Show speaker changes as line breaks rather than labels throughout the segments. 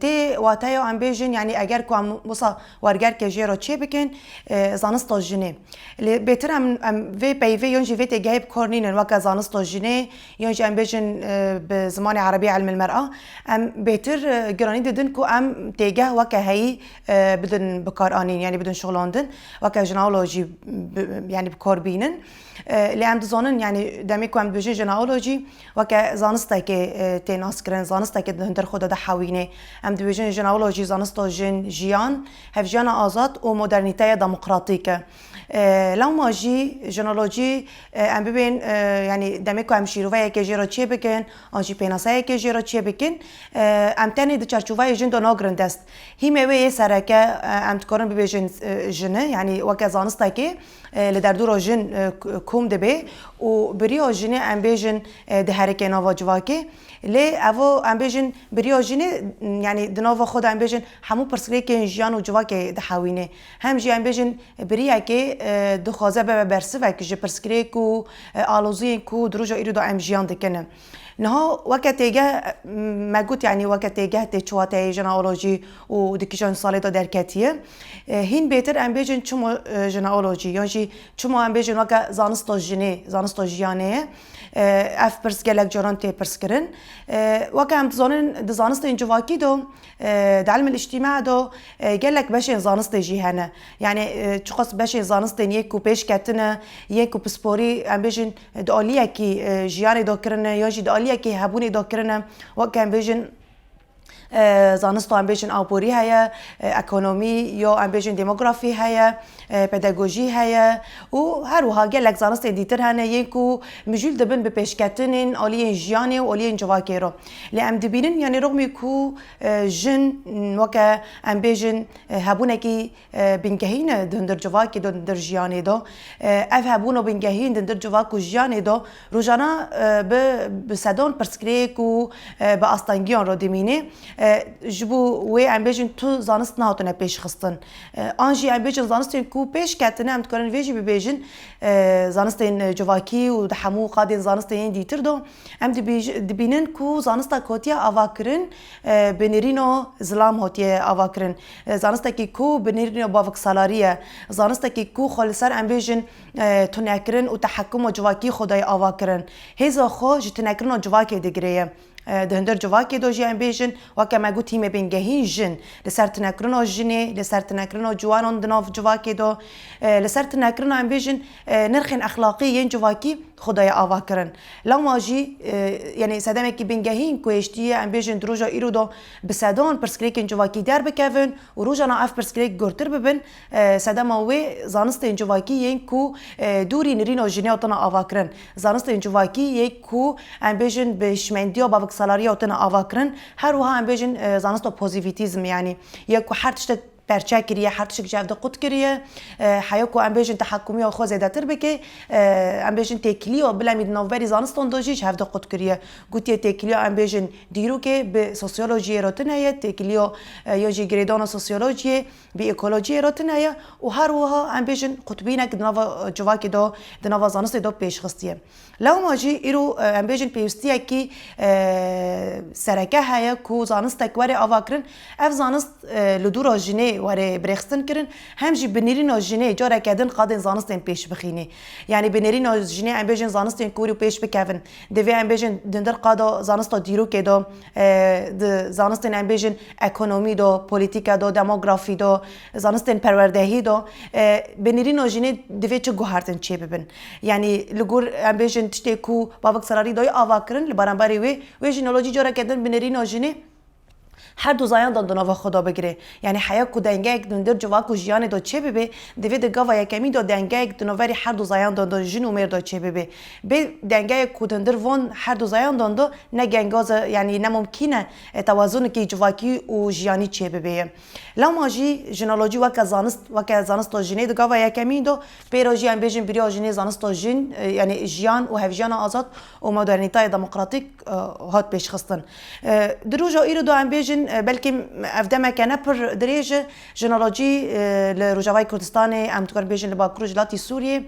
Tê wateya em bêjin yanî eger ku em wisa wergerkê jê re çê bikin zanista jinê. Lê bêtir em em vê peyvê yon jî vê têgehê bi kor nînin weke zanista jinê yon jî em bêjin bi zimanê erebî ilmul mer'a em bêtir giranî didin ku em têgeh weke heyî bidin bikaranîn yanî bidin şixulandin weke jineolojî yanî bi kor bînin. Lê em dizanin yanî demê ku em dibêjin jineolojî Weke zanistekê tê naskirin, zanistekê di hundir xwe de dihewînê. Em dibêjin jinawula jî zanista jin, jiyan, hevjiyana azad û modernîteye demokratîk e. Lewma jî jinolojî em bibên yanî demê ku em şîroveyekê jê re çêbikin an jî pênaseyekê jê re çêbikin em tenê di çarçoveyê jin de nagirin dest. Hîmê wê yê sereke em dikarin bibêjin jini yanî weke zanistekê. Li derdora jin kom dibe û bi riya jinê em bêjin diherike nava civakê. Lê ev em bêjin bi riya jinê yanî di nava xwe de em bêjin hemû pirsgirêkên jiyan û civakê dihewîne. Hem jî em bêjin bi riyekê dixwaze bibe bersivek ji pirsgirêk û aloziyên ku di roja îro de em jiyan dikin. Niha weke têgeh me got yanî weke têgeh tê çiwateyê jineolojî û di kîjan salê de derketiye. Hîn bêtir em bêjin çima jineolojî yan jî çima em bêjin weke zanista jinê, zanista jiyanê ye. Ev pirs gelek caran tê pirskirin. Weke em dizanin di zanistên civakî de di elmil îctîma de gelek beşên zanistê jî hene. Yanî çiqas beşên zanistên yên ku pêş ketine, yên ku pisporî em bêjin di aliyekî jiyanê de kirine ya jî di aliyekî hebûnê de kirine weke em bêjin zanista em bêjin aborî heye, ekonomî ya em bêjin demografî heye, pedagojî heye û her wiha gelek zanistên dîtir hene yên ku mijûl dibin bi pêşketinên aliyên jiyanê û aliyên civakê re. Lê em dibînin yanî rixmî ku jin weke em bêjin hebûnekî Bingehîn e di hundir civakê de û di hundir jiyanê de. Ev hebûn û bingehîn di hundir civak û jiyanê de rojane bi bi sedan pirsgirêk û bi astengiyan re dimîne. Ji bo wê em bêjin tu zanist nehatine pêşxistin. An jî em bêjin zanistên ku pêş ketine em dikarin vê jî bibêjin zanistên civakî û di hemû qadên zanistên yên dîtir de em dibêjin dibînin ku zanista ku hatiye avakirin bi nêrîna zilam hatiye avakirin. Zanistekî ku bi nêrîna bavksalarî ye, zanistekî ku xwe li ser embêjên tunekirin û tehekkuma civakî xwe dayê avakirin, hêza xwe ji tunekirina civakê digire ye. Di hundir civakê de jî embêjin, weke me gotî me bên gehîn jin, li ser tunekirina jinê, li ser tunekirina ciwanan di nav civakê de, li ser tunekirina embêjin nirxên exlaqî yên civakî xwe dayê avakirin. Lama jî yanî sedemekî bingehîn ku hêştiye embêjin di roja îro de, Bi sedan pirsgirêkên civakî derbikevin û rojana ev pirsgirêk gurtir bibin, sedema wê zanistên civakî yên ku dûrî nirîna jinê ya tune avakirin, zanistên civakî yê ku em bêjin bi hişmendiya baviksalarî ya tune avakirin, her wiha em bêjin zanista pozîvîtîzmê yanî yê ku her tiştek perçe kiriye, her tişt ji hev de qut kiriye. Heya ku em bêjin tehekûmiya xwe zêdetir bike, em bêjin têkiliya bilemî di navberî zanistan de jî ji hev de qut kiriye. Gotiye têkiliya em bêjin dîrokê bi sosyolojiyê re tune ye, têkiliya ya jî girêdana sosyolojiyê bi ekolojiyê re tune ye û her wiha em bêjin qutbînek di nava civakê de, di nava zanistê de pêşxistiye. Lewma jî îro em bêjin pêwîstiyekî sereke heye ku zanistek were avakirin. Ev zanist li dûra jinê were birêxistin kirin. Hem jî bi nêrîna jinê careke din qadên zanistên pêş bixînê. Yanî bi nêrîna jinê em bêjin zanistên ku îro pêş bikevin. Divê em bêjin di ndir qada zanista dîrokê de, di zanistên em bêjin ekonomî de, polîtîke de, demografî de, Zanistên perwerdehî do binirîno jinê divê çi guhertin çê bibin. Yanî li gor em bêjin tiştê ku Bavik Serarî dayê ava kirin li beramberê wê wê jî nalo jî careke din binirîno jinê her du zayan dan di nava xwe da bigirê. Yanî heya ku dengeyek di ndir civak û jiyanê da çê bibê divê di gava yekemî da dengeyek di naverî her du zayan dan da jin û mêr da çê bibê. Bê dengeyek ku di ndir van her du zayan dan da ne gengaz e yanî ne mumkîn e tewazunekî civakî û jiyanî çê bibê ye. Lewma jî jinolojî weke zanist weke zanista jinê di gava yekemîn de pêra jî em bêjin biriya jinê zanista jin yanê jiyan û hevjiyana azad û modernîteyê demokratîk hat pêşxistin. Di roja îro de em bêjin belkî ev demeke ne pir dirêj e jinolojî li Rojavayê Kurdistanê em dikarin bêjin li Bakur û ji latî Sûriyê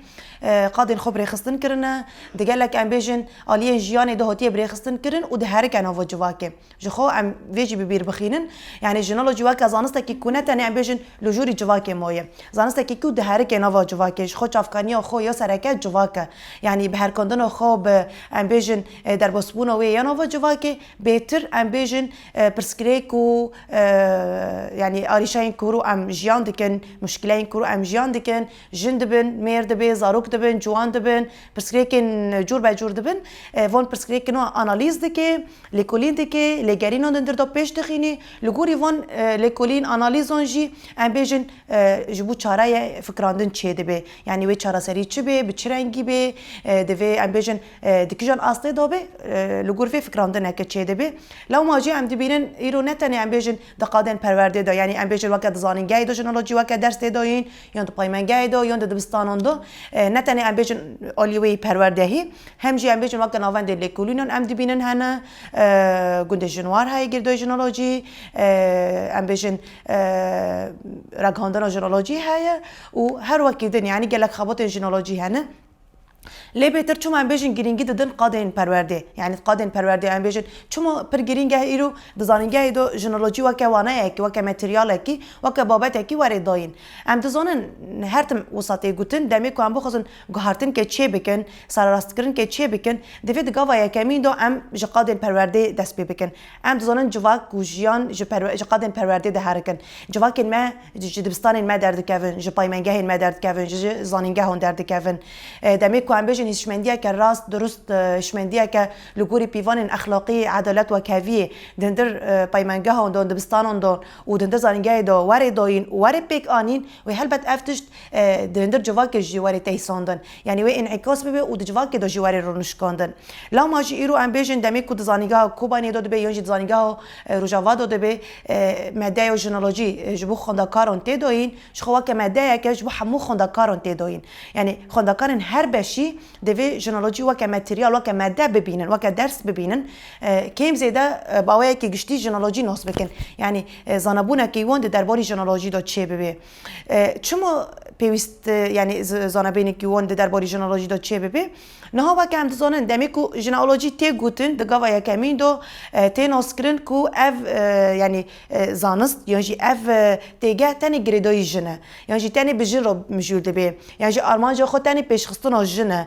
qadên xwe bi rêxistin kirine. Di gelek em bêjin aliyên jiyanê de hatiye bi rêxistin kirin û diherike nava civakê. Ji xwe em vê jî bi bîr bixînin. Yanî jinolojî weke zanistekî ku ne tenê em bêjin li jûrî civakê maye. Zanistekî ku diherike nava civakê, ji xwe çavkaniya xwe ya sereke civak e. Yanî bi herkandina xwe bi em bêjin derbasbûna wê ya nava civakê, bêtir em bêjin pirsgirêk ku yanî arîşeyên ku ru em jiyan dikin, muşkileyên ku ru em jiyan dikin, Jin dibin, mêr dibe, zarok dibin, ciwan dibin, pirsgirêkên cûrbecûr dibin. Van pirsgirêkin wan analîz dike, lêkolîn dike, lêgerînan di ndir de pêş dixîne. Li gorî van lêkolîn, analîzan jî em bêjin ji bo çareyê fikirandin çêdibe. Yanî wê çareserî çi bê, bi çi rengî bê, divê em bêjin di kîjan astê de be, li gor vê fikirandineke çêdibe. Lewma jî em dibînin îro ne tenê em bêjin di qadên perwerdê de yanî em bêjin weke dizanin gehê de jin û jî weke ders tê dayîn, Yon di paymengehê de, yon di dibistanan de ne tenê em bêjin aliyê wê yî perwerdehî, hem jî em bêjin weke navendê lêkolînan em dibînin hene, gundê Jinwar heye girdoyê jinolojî, em bêjin ragihandina jinolojî heye û her wekî din yanî gelek xebatên jinolojî hene. Lê bêtir çima em bêjin girîngî didin qadên perwerdê? Yanî di qadên perwerdê em bêjin çima pir girîng e îro di zanîngehê de jinolojî weke waneyekî, weke materyalekî, weke babetekî were dayîn. Em dizanin her tim wisa tê gotin demê ku em bixwazin guhertinke çê bikin, sererastkirinke çê bikin, divê di gava yekemîn de em ji qadên perwerdê dest pê bikin. Em dizanin civak ku jiyan ji qadên perwerdê diherikin, civakên me ji dibistanên me derdikevin, ji paymengehên me derdikevin, ji zanîngehan derdikevin. Demê ku em bêjin hişmendiyeke rast, dirust, hişmendiyeke li gorî pîvanên exlaqî, edalet û heviyê di hindir paymengehan de, dibistanan de û di hindir zanîngehê de werê dayîn û werê pêk anîn wê helbet ev tişt di hindir civakê jî werê teyîsandin. Yanî wê înîkas bibe û di civakê de jî were rûnişkandin. Lama jî îro em bêjin demê ku di zanîngeha Kobaniyê de dibe yan jî di zanîngeha Rojava de dibe medeya jinolojî ji bo xwendekaran tê dayîn ji xwe weke medeyeke ji bo hemû xwendekaran tê dayîn. Yanî xwendekarên her beşî divê jinolojî weke materyal, weke mede bibînin, weke ders bibînin. Kêm zêde baweyeke giştî jinolojî nas bikin. Yanî zanebûneke wan di derbarî jinolojî de çêbibe. Çima pêwîst yanî zanebênekî wan di derbarî jineolojî de çê bibe? Niha weke em dizanin demê ku jineolojî tê gotin di gava yekemîn de tê naskirin ku ev yanî zanist yan jî ev têgeh tenê girêdayî jin e yan jî tenê bi jin re mijûl dibe yan jî armanca xwe tenê pêşxistina jin e.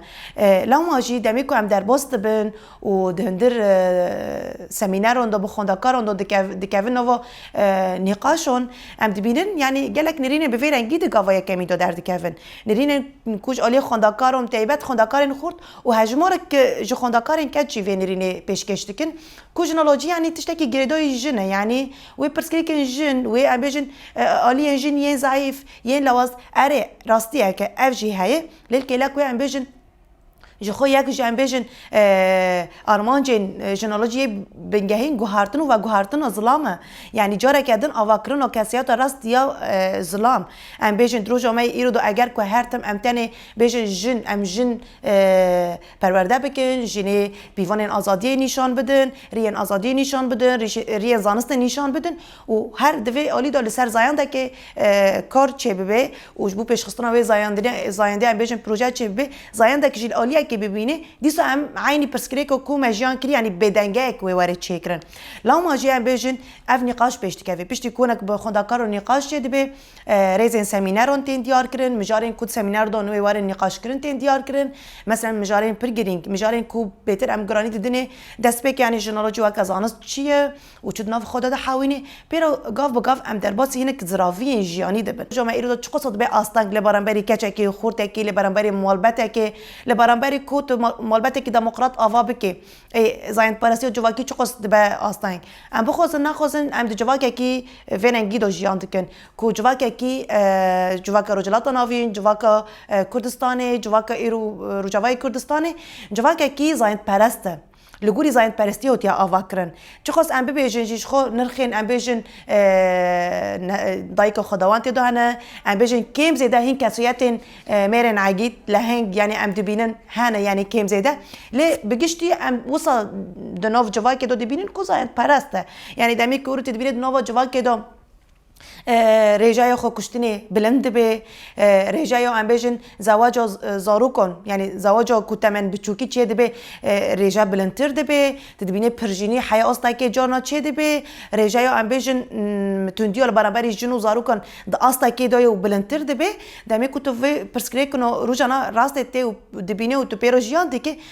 Lewma jî demê ku em derbas dibin û di hundir semîneron de bi xwendekaran de dikevin nava nîqaşan em dibînin yanî gelek nêrînên bi vê rengî di gava yekemîn de derdikevin. Nêrînên ku ji aliyê xwendekaran bi taybet xwendekarên xurt û hejmarek ji xwendekarên keç jî vê nêrînê pêşkêş dikin ku jinolojî yanî tiştekî girêdayî jin e yanî wê pirsgirêkên jin wê em bêjin aliyên jin yên zayîf yên lawaz erê rastî eke ev jî heye lê li kêlek wê em bêjin Ji xwe yek jî em bêjin armancên jinolojiyê bingehîn guhartin û veguhartina zilam e. Yanî careke din avakirina kesiyata rast ya zilam. Em bêjin di roja me yê îro de eger ku her tim em tenê bêjin jin em jin perwerde bikin, jinê pîvanên azadiyê nîşan bidin, riyên azadiyê nîşan bidin, riyên zanistê nîşan bidin, û her di vê alî de li ser zayendekê kar çêbibe û ji bo pêşxistina wê zayendeyan bêjin proje çêbibe, zayendek jî li aliyekê bibîne, dîsa em eynî pirsgirêka ku me jiyan kirî yanî bêdengeyek wê were çêkirin. Lewma jî em bêjin ev nîqaş pêş dikeve. Piştî konek bi xwendekar û nîqaş çêdibe, rêzên semîneran tên diyarkirin, mijarên ku di semîner dan wê werin nîqaşkirin tên diyarkirin. Meselen mijarên pir girîng, mijarên ku bêtir em giranî didinê, destpêkê yanî ji nalocî weke zanist çi ye? Û çi di nav xwe de dihewîne, pêro gav bi gav em derbasî hinek ziraviyên jiyanî dibin. Ji me îro de çi qasa dibe asteng li beramberî keçekê, xurtekê, li beramberî malbetekê, li beramberî ku tu malbetekî demokrat ava bikî. Ê zayendperestiya civakî çi qas dibe asteng. Em bixwazin nexwazin em di civakekî vê rengî de jiyan dikin. Ku civakekî civaka Rojhilata Navîn, civaka Kurdistanê, civaka îro Rojavayê Kurdistanê, civakekî zayendperest e. Li gorî zayendperestiyê hatiye avakirin. Çixwest em bibêjin jî ji xwe nirxên em bêjin dayika xwedewan tê de hene, em bêjin kêm zêde hîn kesiyetên mêrên egîd, leheng yanî em dibînin hene yanî kêm zêde. Lê bi giştî em wisa di nav civakê de dibînin ku zayendperest e. Yanî demê ku rûtê dibîne di nava civakê de Rêjeya xwekuştinê bilind dibe. Rêjeya em bêjin zewaca zarokan yanî zewaca ku temen biçûkî çêdibe rêje bilindtir dibe. Tu dibînî pirjînî heya astekê carna çêdibe. Rêjeya em bêjin tundiya li beramberî jin û zarokan di astekê de ye û bilindtir dibe. Demê ku tu vê pirsgirêkino rojane rastê tê û dibînî û tu pê re jiyan dikî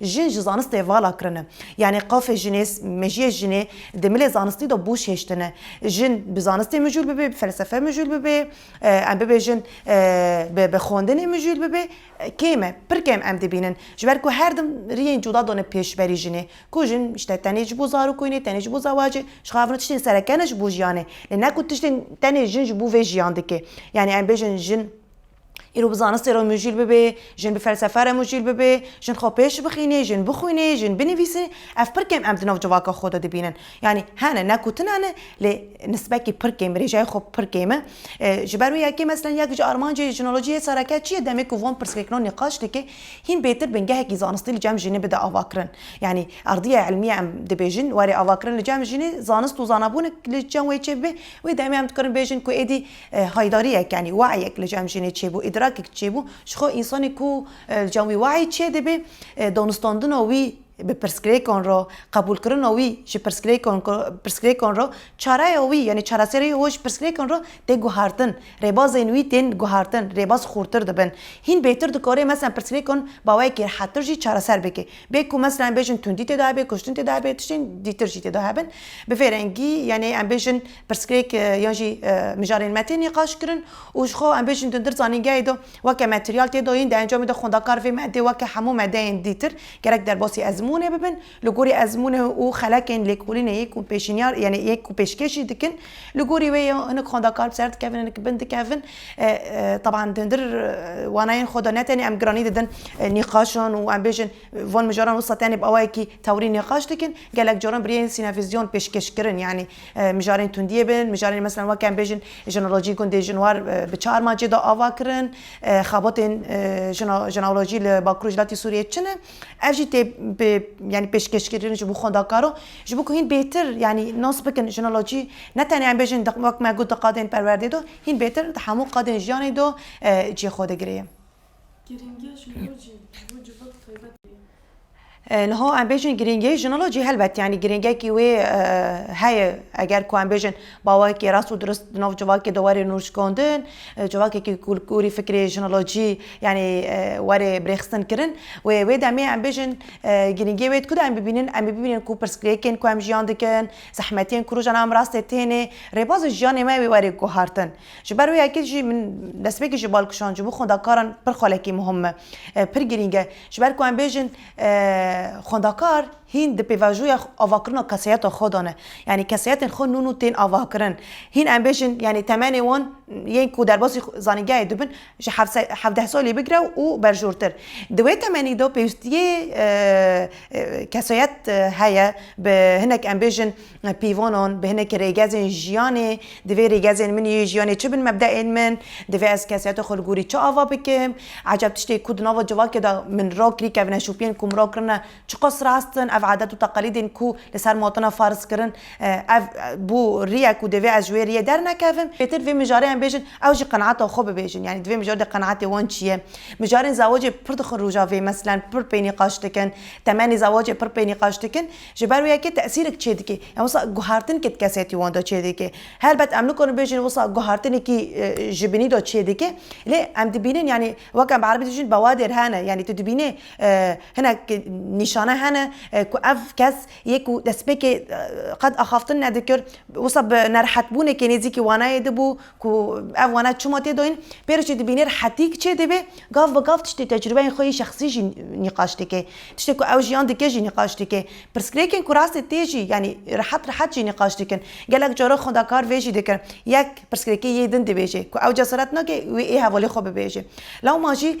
Jin ji zanistê vala kirine. Yanî qafê jinê, mejiyê jinê di milê zanistî de boş hêştine. Jin bi zanistê mijûl bibê, bi felsefe mijûl bibê, em bibêjin bi xwendinê mijûl bibê kêm e. Pir kêm em dibînin. Ji ber ku her dim riyên cuda done pêş berî jinê. Ku jin işte tenê ji bo zarokûnê, tenê ji bo zewacê, ji xwe re tiştên sereke ne ji bo jiyanê. Lê ne ku tiştên tenê jin ji bo vê jiyan dike. Yanî em bêjin jin Îro bi zanistê re mujîl bibê, jin bi felsefe re mujîl bibê, jin xwe pêş bixînê, jin bixwînê, jin binivîsî, ev pir kêm em di nav civaka xwe de dibînin. Yanî hene ne ku tune ne lê nisbekî pir kêm, rêjeyê xwe pir kêm e. Ji ber wê yekê meselen yek ji armancê jinolojiyê sereke çi ye demê ku van pirsgirêkno nîqaş dike hîn bêtir bingehekî zanistî li cem jinê bide avakirin. Yanî ardiya ilmiye em dibêjin warê avakirin li cem jinê zanist û zanabûn li cem wê çêbibe wê demê em dikarin bêjin ku êdî Haydariyek yanî wehyek li cem jinê çêbû, îdrakek çêbû, ji xwe însanê ku li cem wî wehy çêdibê, danûstandina wî bi pirsgirêkan re, qebûlkirina wî ji pirsgirêkan pirsgirêkan re, çareya wî yanî çareseriyê we ji pirsgirêkan re tê guhertin, rêbazên wî tên guhertin, rêbaz xûrtir dibin. Hîn bêtir dikarê meselan pirsgirêkan bi awayekî rihettir jî çareser bike. Bê ku meselan em bêjin tundî tê de hebe, kuştin tê de hebe, tiştên dîtir jî tê de hebin. Bi vê rengî yanî em bêjin. Pirsgirêk yan jî mijarên metê nîqaş kirin û ji xwe em bêjin dundir zanîngehê de weke materyal tê de yên di encamê de xwendakar vê medê weke hemû medeyên dîtir gerek derbasî ezmûnê bibin li gorî ezmûnê û xelekên lêkolînê yê ku pêşîniyar yanî yê ku pêşkêş jî dikin li gorî wê ya hinek xwendakar bi ser dikevin hinek bin dikevin teban dundir wanayên xwe de ne tenê em giranî didin nîqaşan û em bêjin Van mijaran wisa tenê bi awayekî tewrî nîqaş dikin. Gelek caran bi rêyên sînevîzyon pêşkêşkirin. Yanî mijarên tundiyê bin, mijarên meselan weke em bêjin jinolojî gundê jinwar bi çi armancê da ava kirin, xebatên jinolojî li Bakur û ji latî Sûriyeyê çi ne. Ev jî tê yanî pêşkêşkirin ji bo xwendakaran. Ji bo ku hîn bêtir yanî nas bikin jinolojî ne tenê em bêjin wek me got di qadên perwerdê da, hîn bêtir di hemû qadên jiyanê da cihê xwe digire ye. Niha em bêjin girîngiyê jinolo jî helbet yanî girîngekî wê heye eger ku em bêjin bawekî rast û dirust di nav civakê de were nûçkandin civakekî kûrkûrî fikrê jinolojî yanî were birêxistin kirin wê wê demê em bêjin girîngiyê wê ku de em bibînin em ê bibînin ku pirsgirêkên ku em jiyan dikin zehmetiyên ku rojan em rastê têne rêbazê jiyanê me wê were guhartin. Ji ber wê yekê jî min destpêkê ji bal kişand ji bo xwendakaran pir xwelekî muhim e, pir girîng e. Ji ber ku em bêjin xwendakar hîn di pêvajoya avakirina keseyeta xwe de ne. Yanî keseyetên xwe nûn û tên avakirin. Hîn em bêjin yanî temenê wan yên ku derbasî zanîngehê de bin ji hevdeh salî bigire û berjortir. Di wê temenî de pêwîstiyê keseyet heye bi hinek em bêjin Pîvanan bi hinek rêgezên jiyanê, divê rêgezên min yê jiyanê çi bin, mebdeên min, divê ez kesiyeta xwe li gorî çi ava bikim, ecab tiştê ku di nava civakê de min ra kirî kevine şopiyên ku min ra kirine çiqas rast in, ev adet û teqelîdên ku li ser ma tune farz kirin ev bû riyek û divê ez ji wê riyê dernekevim. Pêtir divê mijarê em bêjin ew jî qenaata xwe bibêjin yanî divê mijar de qenaatê wan çi ye. Mijarên zewacê pir dixin rojavê meselen pir pênîqaş dikin, temenê zewacê pir pênîqaş dikin. Ji ber wê yekê tesîrek çêdike. Yan wisa guhertinkê di kesetî wan de çêdike. Helbet em nikarin bêjin wisa guhertinekî ji binî de çêdike. Lê em dibînin yanî wek em bi erebî dijîn bewadêr hene. Yanî tu dibînê hinek nîşane hene ku ev kes yê ku destpêkê qet axaftin nedikir wisa bi nerehetbûnekê nêzîkî wanayê de bû. Ku ev wana çima tê dayîn, pêroçê dibînir hetîk çê dibê, gav bi gav tiştê tecrubeyên xwe yê şexsî jî nîqaş dike. Tiştê ku ew jiyan dike jî nîqaş dike. Pirsgirêkên ku rastê tê jî yanî rehet rehet jî nîqaş dikin. Gelek caran xwendakar vê jî dikin. Yek pirsgirêkê yê din dibêje ku ew cesaret nake wê ê hevalê xwe bibêje. Lewma jî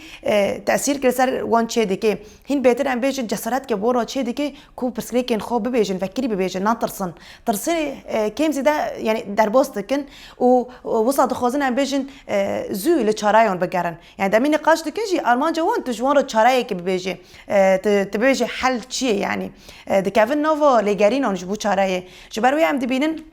tesîrkirî ser wan çê dike. Hîn bêtir em bêjin cesaret ke bo ra çê dike ku pirsgirêkên xwe bibêjin, vekirî bibêjin, natirsin. Tirsê kêm zêde yanî derbas dikin û wisa dixwazin em bêjin zû li çareyan bigerin. Yanî demînê qaç dikin jî armanca wan tu ji wan re çareyekê bibêjî. Tu tu bibêjî hel çi ye yanî. Dikevin nava lêgerînan ji bo çareyê. Ji ber wê em dibînin.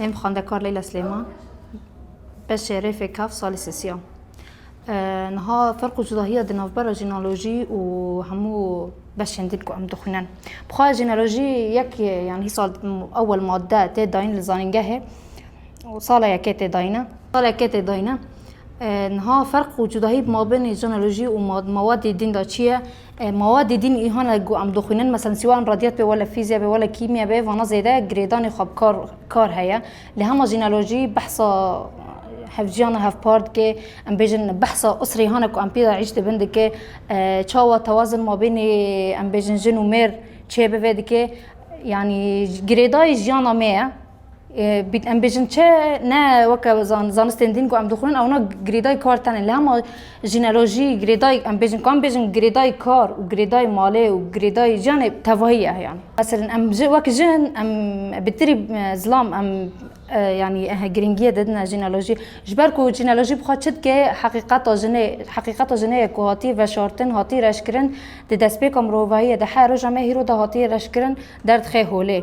Em xwendekar Leyla Slêman beşê rêfê kav salê sesiya. Niha ferq û cudahiya di navbera jînolojî û hemû beşên din ku em dixwînin. Bixwe jînolojî yek yan hîsal ewel madde tê dayîn li zanîngehê û sala yekê tê dayîne. Sala yekê tê dayîne. Niha ferq û cudahî mabênê jenolojî û mawadê dîn de çi ye? Mawadê dîn îhane ku em dixwînin meselen sî wele radiyat bê wele fîzya bê wele kîmya bê vana zêde girêdanê xwe bi kar kar heye. Lê hema jenolojî behsa hevjiyana hevpar dike em bêjin behsa usrê hane ku em pê de îş dibin dike. Çawa tewazun mabênê em bêjin jin û mêr çê bive dike. Yanî girêdayî jiyana me ye. Em bêjin çi ne weke zanistên dîn ku em dixwînin ewna girêdayî kar tenê li hema jîneolojî girêdayî em bêjin ku em bêjin girêdayî kar û girêdayî malê û girêdayî jiyanê tevahî ye yanî. Meselin em ji wek jin em bi tirî zilam em yanî girîngiyê didine jîneolojî ji ber ku jîneolojî bi xwe çi dike heqîqeta jinê heqîqeta jinê ye ku hatî veşartin hatî reşkirin di destpêka mirovahiyê de her roja me hîro de hatî reşkirin derdixê holê.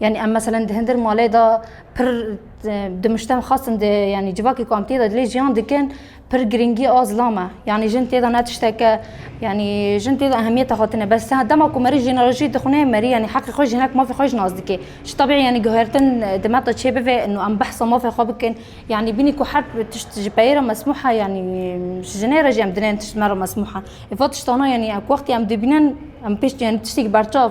Yani em meselen di hindir malê de pir di miştem xasin di yani civakê ku em tê de dilê jiyan dikin pir giringî a zilam e. Yani jin tê de ne tişteke yani jin tê de ehemiyete xwe tine bes dema ku merî jeneralojî dixune merî yani heqê xwe jinek mafê xwe ji nas dike. Ji tebî yani guhertin di me de çê bibe û em behsa mafê xwe bikin. Yani bînî ku her tişt ji peyê re mesmûh e yani ji jinê re jî em dinên tişt me re mesmûh e. Eva tiştana yani ku wextê em dibînin em pêş yani tiştekî berçav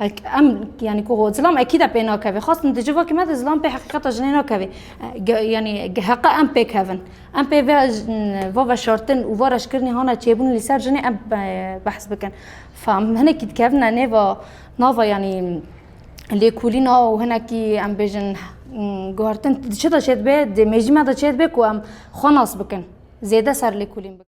Em yanî ku zilam ekîda pê nakevê xastin di civakê me de zilam pê heqîqeta jinê nakevê yanî heqa em pê kevin em pê ve va veşartin û va reşkirinî hana çêbûn lî ser jinê em behs bikin fam hinekî dikevine nêva nava yanî lêkolîna û hinekî em bêjin guhartin çi de çê dibe dê mêjî me de çê dibe ku em xwe nas bikin zêde ser lêkolîn bikin